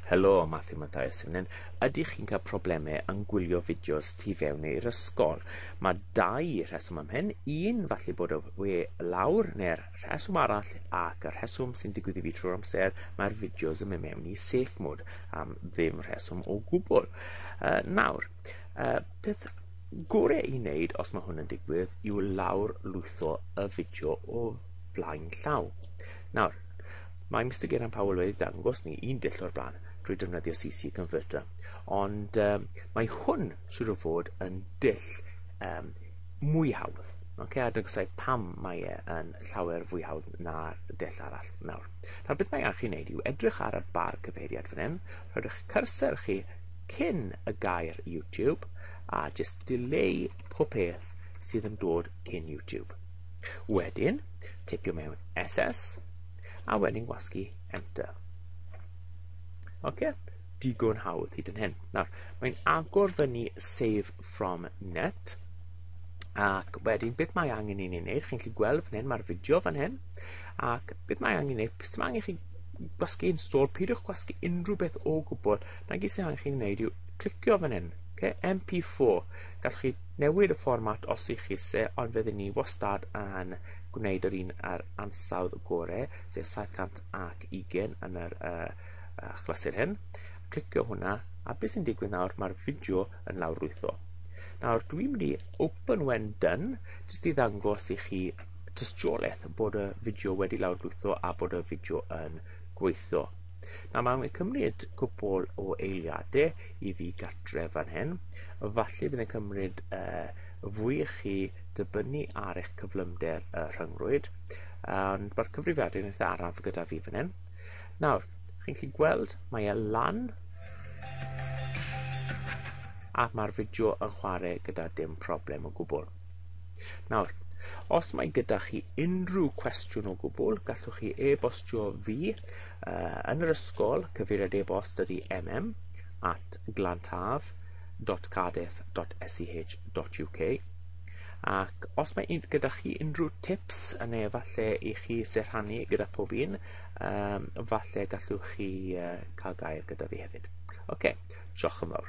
Helo, Matthew Matthias yn hyn. Ydych chi'n cael problemau yn gwylio fideos tu fewn i'r ysgol? Mae dau rheswm am hyn. Un, falle bod y we lawr neu'r rheswm arall ac y rheswm sy'n digwydd i fi trwy'r amser, mae'r fideos yn mynd mewn i safe mode am ddim rheswm o gwbl. Uh, nawr, uh, peth gore i wneud os mae hwn yn digwydd yw lawr lwytho y fideo o flaen llaw. Nawr, mae Mr Geran Powell wedi dangos ni un dull o'r blaen drwy defnyddio CC Converter, ond um, mae hwn sydd o fod yn dull um, mwy hawdd. Okay, a dygysau pam mae e yn llawer fwy hawdd na'r dull arall. Nawr, nawr beth mae angen chi wneud yw edrych ar y bar cyfeiriad fan hyn, rhoi'ch cursor chi cyn y gair YouTube a jyst dileu pob peth sydd yn dod cyn YouTube. Wedyn, tipio mewn SS a wedyn gwasgu Enter. Oce, digon hawdd hyd yn hyn. Nawr, mae'n agor fyny Save From Net ac wedyn beth mae angen i ni wneud, chi'n gallu gweld fan hyn, mae'r fideo fan hyn ac beth mae angen i ni wneud, beth mae angen i chi gwasgu install, peidiwch gwasgu unrhyw beth o gwbl. Na gyd sy'n angen chi'n gwneud yw clicio fan hyn, okay? MP4. Gallwch chi newid y fformat os ych chi se, ond fe ni wastad yn gwneud yr un ar ansawdd gore, sef 720 yn yr uh, uh, chlysur hyn. Clicio hwnna, a beth sy'n digwydd nawr, mae'r fideo yn lawrlwytho. Nawr, dwi'n mynd i open when done, jyst i ddangos i chi tystiolaeth bod y fideo wedi lawrlwytho a bod y fideo yn gweithio. Na, mae'n cymryd cwpl o eiliadau i fi gatre fan hyn. Falle bydd yn cymryd uh, fwy i chi dybynnu ar eich cyflymder y rhyngrwyd. Ond mae'r cyfrifiadur yn eitha araf gyda fi fan hyn. Nawr, chi'n gallu gweld, mae e lan a mae'r fideo yn chwarae gyda dim problem o gwbl. Nawr, os mae gyda chi unrhyw cwestiwn o gwbl, gallwch chi e-bostio fi uh, yn yr ysgol, cyfeiriad e-bost ydy mm at glantaf.cardiff.sch.uk ac os mae un, gyda chi unrhyw tips yn ei falle i chi sy'n rhannu gyda pob un, um, falle gallwch chi uh, cael gair gyda fi hefyd. Oce, okay, diolch yn fawr.